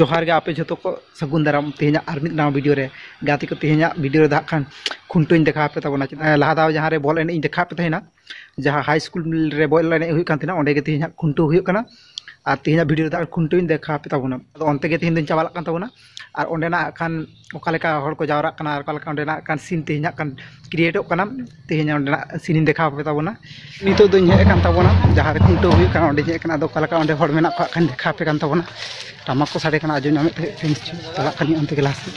ᱡᱚᱦᱟᱨ ᱜᱮ ᱟᱯᱮ ᱡᱷᱚᱛᱚ ᱠᱚ ᱥᱟᱹᱜᱩᱱ ᱫᱟᱨᱟᱢ ᱛᱮᱦᱮᱧᱟᱜ ᱟᱨ ᱢᱤᱫ ᱱᱟᱣᱟ ᱵᱷᱤᱰᱤᱭᱳ ᱨᱮ ᱜᱟᱛᱮ ᱠᱚ ᱛᱮᱦᱮᱧᱟᱜ ᱵᱷᱤᱰᱤᱭᱳ ᱨᱮ ᱫᱟᱜ ᱠᱷᱟᱱ ᱠᱷᱩᱱᱴᱟᱹᱣᱤᱧ ᱫᱮᱠᱷᱟᱣ ᱯᱮ ᱛᱟᱵᱚᱱᱟ ᱞᱟᱦᱟ ᱫᱟᱣ ᱡᱟᱦᱟᱸ ᱨᱮ ᱵᱚᱞ ᱮᱱᱮᱡ ᱤᱧ ᱫᱮᱠᱷᱟᱣ ᱯᱮ ᱛᱟᱦᱮᱱᱟ ᱡᱟᱦᱟᱸ ᱦᱟᱭ ᱥᱠᱩᱞ ᱨᱮ ᱵᱚᱞ ᱮᱱᱮᱡ ᱦᱩᱭᱩᱜ ᱠᱟᱱ ᱛᱟᱦᱮᱱᱟ ᱚᱸᱰᱮ ᱜᱮ ᱛᱮᱦᱮᱧᱟᱜ ᱠᱷᱩᱱᱴᱟᱹᱣ ᱦᱩᱭᱩᱜ ᱠᱟᱱᱟ ᱟᱨ ᱛᱮᱦᱮᱧᱟᱜ ᱵᱷᱤᱰᱤᱭᱳ ᱨᱮ ᱫᱟᱜ ᱠᱷᱩᱱᱴᱟᱹᱣᱤᱧ ᱫᱮᱠᱷᱟᱣ ᱯᱮ ᱛᱟᱵᱚᱱᱟ ᱟᱫᱚ ᱚᱱᱛᱮ ᱜᱮ ᱛᱮᱦᱮᱧ ᱫᱚᱧ ᱪᱟᱞᱟᱜ ᱠᱟᱱ ᱛᱟᱵᱚᱱᱟ ᱟᱨ ᱚᱸᱰᱮᱱᱟᱜ ᱦᱟᱸᱜ ᱠᱷᱟᱱ ᱚᱠᱟ ᱞᱮᱠᱟ ᱦᱚᱲ ᱠᱚ ᱡᱟᱣᱨᱟᱜ ᱠᱟᱱᱟ ᱚᱠᱟ ᱞᱮᱠᱟ ᱚᱸᱰᱮᱱᱟᱜ ᱦᱟᱸᱜ ᱠᱷᱟᱱ ᱥᱤᱱ ᱛᱮᱦᱮᱧᱟᱜ ᱠᱟᱱ ᱠᱨᱤᱭᱮᱴᱚᱜ ᱠᱟᱱᱟ ᱛᱮᱦᱮᱧ ᱚᱸᱰᱮᱱᱟᱜ ᱥᱤᱱᱤᱧ ᱫᱮᱠᱷᱟᱣ ᱯᱮ ᱛᱟᱵᱚᱱᱟ ᱱᱤᱛᱳᱜ ᱫᱚᱧ ᱦᱮᱡ ᱟᱠᱟᱱ ᱛᱟᱵᱚᱱᱟ ᱡᱟᱦᱟᱸ ᱨᱮ ᱠᱷᱩᱱᱴᱟᱹᱣ ᱦᱩᱭᱩᱜ ᱠᱟᱱᱟ ᱚᱸᱰᱮᱧ ᱦᱮᱡ ᱠᱟᱱᱟ ᱟᱫᱚ ᱚᱠᱟ ᱞᱮᱠᱟ ᱚᱸᱰᱮ ᱦᱚᱲ ᱢᱮᱱᱟᱜ ᱠᱚᱣᱟ ᱦᱟᱸᱜ ᱠᱷᱟᱱ ᱫᱮᱠᱷᱟᱣ ᱯᱮ ᱠᱟᱱ ᱛᱟᱵᱚᱱᱟ ᱴᱟᱢᱟᱠ ᱠᱚ ᱥᱟᱰᱮ ᱠᱟᱱᱟ ᱟᱸᱡᱚᱢ ᱧᱟᱢᱮᱫ ᱛᱟᱦᱮᱸᱫ ᱯᱮ ᱱᱤᱥᱪᱳᱭ ᱪᱟᱞᱟᱜ ᱠᱟᱹᱱᱟᱹᱧ ᱚᱱᱛᱮ ᱜᱮ ᱞᱟᱦᱟ ᱥᱮᱫ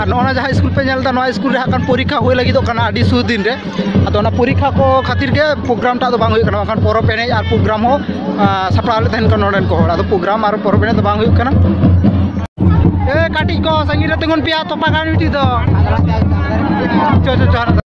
ᱟᱨ ᱱᱚᱜᱼᱚ ᱱᱟ ᱡᱟᱦᱟᱸ ᱥᱠᱩᱞ ᱯᱮ ᱧᱮᱞ ᱮᱫᱟ ᱱᱚᱣᱟ ᱥᱠᱩᱞ ᱨᱮ ᱦᱟᱸᱜ ᱠᱷᱟᱱ ᱯᱚᱨᱤᱠᱠᱷᱟ ᱦᱩᱭ ᱞᱟᱹᱜᱤᱫᱚᱜ ᱠᱟᱱᱟ ᱟᱹᱰᱤ ᱥᱩᱨ ᱫᱤᱱ ᱨᱮ ᱟᱫᱚ ᱚᱱᱟ ᱯᱚᱨᱤᱠᱠᱷᱟ ᱠᱚ ᱠᱷᱟᱹᱛᱤᱨ ᱜᱮ ᱯᱨᱳᱜᱨᱟᱢ ᱴᱟᱜ ᱫᱚ ᱵᱟᱝ ᱦᱩᱭᱩᱜ ᱠᱟᱱᱟ ᱵᱟᱝᱠᱷᱟᱱ ᱯᱚᱨᱚᱵᱽ ᱮᱱᱮᱡ ᱟᱨ ᱯᱨᱳᱜᱨᱟᱢ ᱦᱚᱸ ᱥᱟᱯᱲᱟᱣ ᱞᱮᱫ ᱛᱟᱦᱮᱱ ᱠᱟᱱᱟ ᱱᱚᱰᱮᱱ ᱠᱚ ᱦᱚᱲ ᱟᱫᱚ ᱯᱨᱳᱜᱨᱟᱢ ᱟᱨ ᱯᱚᱨᱚᱵᱽ ᱮᱱᱮᱡ ᱫᱚ ᱵᱟᱝ ᱦᱩᱭᱩᱜ ᱠᱟᱱᱟ ᱮ ᱠᱟᱹᱴᱤᱡ ᱠᱚ ᱥᱟᱺᱜᱤᱧ ᱨᱮ ᱛᱤᱸᱜᱩᱱ ᱯᱮᱭᱟ ᱛᱚᱯᱟ ᱠᱟᱱ ᱢᱤᱫᱴᱤᱡ ᱫᱚ ᱪᱚ ᱪᱚ ᱪᱚ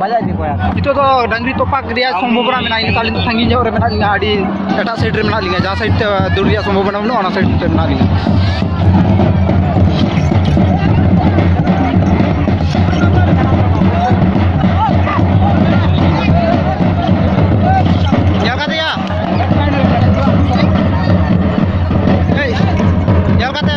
ᱵᱟᱡᱟᱭ ᱤᱫᱤ ᱠᱚᱣᱟ ᱱᱤᱛᱚᱜ ᱫᱚ ᱰᱟᱝᱨᱤ ᱛᱚᱯᱟᱜ ᱨᱮᱭᱟᱜ ᱥᱚᱢᱵᱷᱚᱵᱚᱱᱟ ᱢᱮᱱᱟᱜᱼᱟ ᱤᱱᱟᱹ ᱛᱟᱦᱚᱞᱮ ᱥᱟᱺᱜᱤᱧ ᱧᱚᱜ ᱨᱮ ᱢᱮᱱᱟᱜ ᱞᱤᱧᱟ ᱟᱹᱰᱤ ᱮᱴᱟᱜ ᱥᱟᱭᱤᱰ ᱨᱮ ᱢᱮᱱᱟᱜ ᱞᱤᱧᱟ ᱡᱟᱦᱟᱸ ᱥᱟᱭᱤᱰ ᱛᱮ ᱫᱟᱹᱲ ᱨᱮᱭᱟᱜ ᱥᱚᱢᱵᱷᱚᱵᱚᱱᱟ ᱵᱟᱹᱱᱩᱜᱼᱟ ᱚᱱᱟ ᱥᱟᱭᱤᱰ ᱛᱮ ᱢᱮᱱᱟᱜ ᱞᱤᱧᱟ ᱧᱮᱞ ᱠᱟᱫᱮᱭᱟ ᱮᱭ ᱧᱮᱞ ᱠᱟᱛᱮ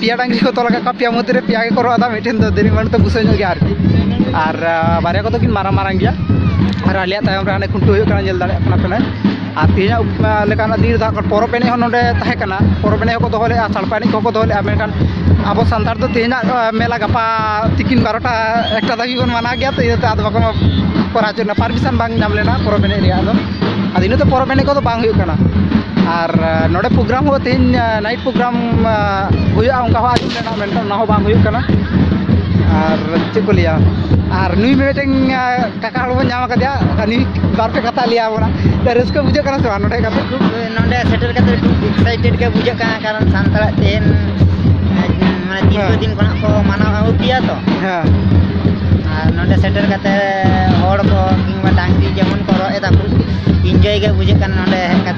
ᱯᱮᱭᱟ ᱰᱟᱝᱜᱤ ᱠᱚ ᱛᱚᱞ ᱟᱠᱟᱫ ᱠᱚᱣᱟ ᱯᱮᱭᱟ ᱢᱚᱫᱽᱫᱷᱮ ᱨᱮ ᱯᱮᱭᱟ ᱜᱮᱠᱚ ᱨᱚᱜ ᱮᱫᱟ ᱢᱤᱫᱴᱮᱱ ᱫᱚ ᱫᱮᱨᱤ ᱢᱟᱱ ᱫᱚ ᱵᱩᱥᱟᱹ ᱧᱚᱜ ᱜᱮᱭᱟ ᱟᱨᱠᱤ ᱟᱨ ᱵᱟᱨᱭᱟ ᱠᱚᱫᱚ ᱠᱤᱱ ᱢᱟᱨᱟᱝ ᱢᱟᱨᱟᱝ ᱜᱮᱭᱟ ᱟᱨ ᱟᱞᱮᱭᱟᱜ ᱛᱟᱭᱚᱢ ᱨᱮ ᱦᱟᱱᱮ ᱠᱷᱩᱱᱴᱟᱹᱣ ᱦᱩᱭᱩᱜ ᱠᱟᱱᱟ ᱧᱮᱞ ᱫᱟᱲᱮᱭᱟᱜ ᱠᱟᱱᱟ ᱯᱮ ᱟᱨ ᱛᱮᱦᱮᱧᱟᱜ ᱞᱮᱠᱟᱱᱟᱜ ᱫᱤᱱ ᱨᱮᱫᱚ ᱯᱚᱨᱚᱵᱽ ᱮᱱᱮᱡ ᱦᱚᱸ ᱱᱚᱰᱮ ᱛᱟᱦᱮᱸ ᱠᱟᱱᱟ ᱯᱚᱨᱚᱵᱽ ᱮᱱᱮᱡ ᱦᱚᱸᱠᱚ ᱫᱚᱦᱚ ᱞᱮᱫᱼᱟ ᱥᱟᱲᱯᱟ ᱮᱱᱮᱡ ᱠᱚᱦᱚᱸ ᱠᱚ ᱫᱚᱦᱚ ᱞᱮᱫᱼᱟ ᱢᱮᱱᱠᱷᱟᱱ ᱟᱵᱚ ᱥᱟᱱᱛᱟᱲ ᱫᱚ ᱛᱮᱦᱮᱧᱟᱜ ᱢᱮᱞᱟ ᱜᱟᱯᱟ ᱛᱤᱠᱤᱱ ᱵᱟᱨᱚᱴᱟ ᱮᱠᱴᱟ ᱫᱷᱟᱹᱵᱤᱡ ᱵᱚᱱ ᱢᱟᱱᱟᱣ ᱜᱮᱭᱟ ᱛᱚ ᱤᱱᱟᱹᱛᱮ ᱟᱫᱚ ᱵᱟᱠᱚ ᱠᱚᱨᱟᱣ ᱦᱚᱪᱚ ᱯᱟᱨᱢᱤᱥᱚᱱ ᱵᱟᱝ ᱧᱟᱢ ᱞᱮᱱᱟ ᱯᱚᱨᱚᱵᱽ ᱮᱱᱮᱡ ᱨᱮᱭᱟᱜ ᱫᱚ ᱟᱫᱚ ᱤᱱᱟᱹᱛᱮ ᱯᱚᱨᱚᱵᱽ ᱮᱱᱮᱡ ᱠᱚᱫᱚ ᱵᱟᱝ ᱦᱩᱭᱩᱜ ᱠᱟᱱᱟ ᱟᱨ ᱱᱚᱰᱮ ᱯᱨᱳᱜᱨᱟᱢ ᱦᱚᱸ ᱛᱮᱦᱮᱧ ᱱᱟᱭᱤᱴ ᱯᱨᱳᱜᱨᱟᱢ ᱦᱩᱭᱩᱜᱼᱟ ᱚᱱᱠᱟ ᱦᱚᱸ ᱟᱸᱡᱚᱢ ᱞᱮᱱᱟ ᱢᱮᱱᱠᱷᱟᱱ ᱚᱱᱟ ᱦᱚᱸ ᱵᱟᱝ ᱦᱩᱭᱩᱜ ᱠᱟᱱᱟ ᱟᱨ ᱪᱮᱫ ᱠᱚ ᱞᱟᱹᱭᱟ ᱟᱨ ᱱᱩᱭ ᱢᱤᱫᱴᱮᱱ ᱠᱟᱠᱟ ᱦᱚᱲ ᱵᱚᱱ ᱧᱟᱢ ᱟᱠᱟᱫᱮᱭᱟ ᱟᱨ ᱱᱩᱭ ᱵᱟᱨ ᱯᱮ ᱠᱟᱛᱷᱟ ᱞᱟᱹᱭ ᱟᱵᱚᱱᱟ ᱨᱟᱹᱥᱠᱟᱹ ᱵᱩᱡᱷᱟᱹᱜ ᱠᱟᱱᱟ ᱥᱮ ᱵᱟᱝ ᱱᱚᱰᱮ ᱠᱟᱛᱮ ᱱᱚᱰᱮ ᱥᱮᱴᱮᱨ ᱠᱟᱛᱮ ᱮᱠᱥᱟᱭᱴᱮᱰ ᱜᱮ ᱵᱩᱡᱷᱟᱹᱜ ᱠᱟᱱᱟ ᱠᱟᱨᱚᱱ ᱥᱟᱱᱛᱟᱲᱟᱜ ᱛᱮᱦᱮᱧ ᱢᱟᱱᱮ ᱫᱤᱨᱜᱷᱚ ᱫᱤᱱ ᱠᱷᱚᱱᱟᱜ ᱠᱚ ᱢᱟᱱᱟᱣ ᱟᱹᱜᱩ ᱠᱮᱭᱟ ᱛᱚ ᱦᱮᱸ ᱟᱨ ᱱᱚᱰᱮ ᱥᱮᱴᱮᱨ ᱠᱟᱛᱮ ᱦᱚᱲ ᱠᱚ ᱠᱤᱝᱵᱟ ᱰᱟᱝᱨᱤ ᱡᱮᱢᱚᱱ ᱠᱚ ᱨᱚᱜ ᱮᱫᱟ ᱠᱚ ᱤᱱᱡᱚᱭ ᱜᱮ ᱵᱩᱡᱷᱟᱹᱜ ᱠᱟᱱᱟ ᱱᱚᱰᱮ ᱦᱮᱡ ᱠᱟᱛᱮ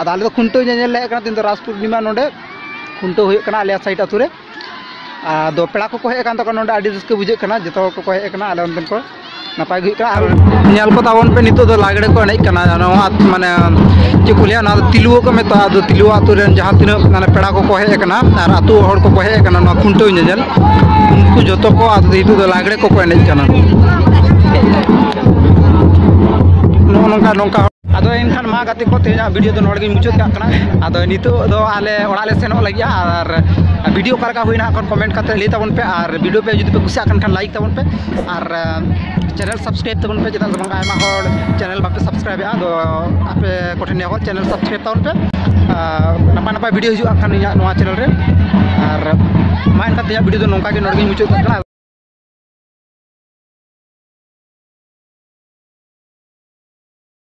ᱟᱫᱚ ᱟᱞᱮ ᱫᱚ ᱠᱷᱩᱱᱴᱟᱹᱣ ᱧᱮᱧᱮᱞ ᱞᱮ ᱦᱮᱡ ᱟᱠᱟᱱᱟ ᱛᱮᱦᱮᱧ ᱫᱚ ᱨᱟᱥ ᱯᱩᱨᱱᱤᱢᱟ ᱱᱚᱰᱮ ᱠᱷᱩᱱᱴᱟᱹᱣ ᱦᱩᱭᱩᱜ ᱠᱟᱱᱟ ᱟᱞᱮᱭᱟᱜ ᱥᱟᱭᱤᱰ ᱟᱹᱛᱩ ᱨᱮ ᱟᱫᱚ ᱯᱮᱲᱟ ᱠᱚᱠᱚ ᱦᱮᱡ ᱟᱠᱟᱱ ᱛᱟᱠᱚ ᱱᱚᱰᱮ ᱟᱹᱰᱤ ᱨᱟᱹᱥᱠᱟᱹ ᱵᱩᱡᱷᱟᱹᱜ ᱠᱟᱱᱟ ᱡᱚᱛᱚ ᱦᱚᱲ ᱠᱚᱠᱚ ᱦᱮᱡ ᱟᱠᱟᱱᱟ ᱟᱞᱮ ᱚᱱᱛᱮᱱ ᱠᱚ ᱱᱟᱯᱟᱭ ᱜᱮ ᱦᱩᱭᱩᱜ ᱠᱟᱱᱟ ᱟᱨ ᱧᱮᱞ ᱠᱚ ᱛᱟᱵᱚᱱ ᱯᱮ ᱱᱤᱛᱚᱜ ᱫᱚ ᱞᱟᱜᱽᱲᱮ ᱠᱚ ᱮᱱᱮᱡ ᱠᱟᱱᱟ ᱱᱚᱣᱟ ᱢᱟᱱᱮ ᱪᱮᱫ ᱠᱚ ᱞᱟᱹᱭᱟ ᱱᱚᱣᱟ ᱫᱚ ᱛᱤᱞᱩᱣᱟᱹ ᱠᱚ ᱢᱮᱛᱟᱜᱼᱟ ᱟᱫᱚ ᱛᱤᱞᱩᱣᱟᱹ ᱟᱹᱛᱩ ᱨᱮᱱ ᱡᱟᱦᱟᱸ ᱛᱤᱱᱟᱹᱜ ᱢᱟᱱᱮ ᱯᱮᱲᱟ ᱠᱚᱠᱚ ᱦᱮᱡ ᱟᱠᱟᱱᱟ ᱟᱨ ᱟᱹᱛᱩ ᱦᱚᱲ ᱠᱚᱠᱚ ᱦᱮᱡ ᱟᱠᱟᱱᱟ ᱱᱚᱣᱟ ᱠᱷᱩᱱᱴᱟᱹᱣ ᱧᱮᱧᱮᱞ ᱩᱱᱠᱩ ᱡᱚᱛᱚ ᱠᱚ ᱟᱫᱚ ᱱᱤᱛᱚᱜ ᱫᱚ ᱞᱟᱜᱽᱲᱮ ᱠᱚᱠᱚ ᱮᱱᱮᱡ ᱠᱟᱱᱟ ᱱᱚᱜᱼᱚ ᱱᱚᱝᱠᱟ ᱱᱚᱝᱠᱟ ᱟᱫᱚ ᱮᱱᱠᱷᱟᱱ ᱢᱟ ᱜᱟᱛᱮ ᱠᱚ ᱛᱮᱦᱮᱧᱟᱜ ᱵᱷᱤᱰᱤᱭᱳ ᱫᱚ ᱱᱚᱰᱮ ᱜᱮᱧ ᱢᱩᱪᱟᱹᱫ ᱠᱟᱜ ᱠᱟᱱᱟ ᱟᱫᱚ ᱱᱤᱛᱚᱜ ᱫᱚ ᱟᱞᱮ ᱚᱲᱟᱜ ᱞᱮ ᱥᱮᱱᱚᱜ ᱞᱟᱹᱜᱤᱫ ᱟᱨ ᱵᱷᱤᱰᱤᱭᱳ ᱚᱠᱟ ᱞᱮᱠᱟ ᱦᱩᱭᱱᱟ ᱠᱷᱟᱱ ᱠᱚᱢᱮᱱᱴ ᱠᱟᱛᱮ ᱞᱟᱹᱭ ᱛᱟᱵᱚᱱ ᱯᱮ ᱟᱨ ᱵᱷᱤᱰᱤᱭᱳ ᱯᱮ ᱡᱩᱫᱤ ᱯᱮ ᱠᱩᱥᱤᱭᱟᱜ ᱠᱟᱱ ᱠᱷᱟᱱ ᱞᱟᱭᱤᱠ ᱛᱟᱵᱚᱱ ᱯᱮ ᱟᱨ ᱪᱮᱱᱮᱞ ᱥᱟᱵᱥᱠᱨᱟᱭᱤᱵ ᱛᱟᱵᱚᱱ ᱯᱮ ᱪᱮᱫᱟᱜ ᱵᱟᱝ ᱟᱭᱢᱟ ᱦᱚᱲ ᱪᱮᱱᱮᱞ ᱵᱟᱯᱮ ᱥᱟᱵᱥᱠᱨᱟᱭᱤᱵ ᱮᱫᱟ ᱟᱫᱚ ᱟᱯᱮ ᱠᱚᱴᱷᱮᱱ ᱱᱮᱦᱚᱨ ᱪᱮᱱᱮᱞ ᱥᱟᱵᱥᱠᱨᱟᱭᱤᱵ ᱛᱟᱵᱚᱱ ᱯᱮ ᱱᱟᱯᱟᱭ ᱱᱟᱯᱟᱭ ᱵᱷᱤᱰᱤᱭᱳ ᱦᱤᱡᱩᱜᱼᱟ ᱠᱷᱟᱱ ᱤᱧᱟᱹᱜ ᱱᱚᱣᱟ ᱪᱮᱱᱮᱞ ᱨᱮ ᱟᱨ ᱢᱟ ᱮᱱᱠᱷᱟᱱ ᱛᱮᱦᱮᱧᱟᱜ ᱵᱷᱤᱰᱤᱭᱳ ᱫᱚ ᱱᱚᱝᱠᱟ ᱜᱮ ᱱᱚᱰᱮ ᱜᱮᱧ ᱢᱩᱪᱟᱹᱫ ᱠᱟᱜ ᱠᱟᱱᱟ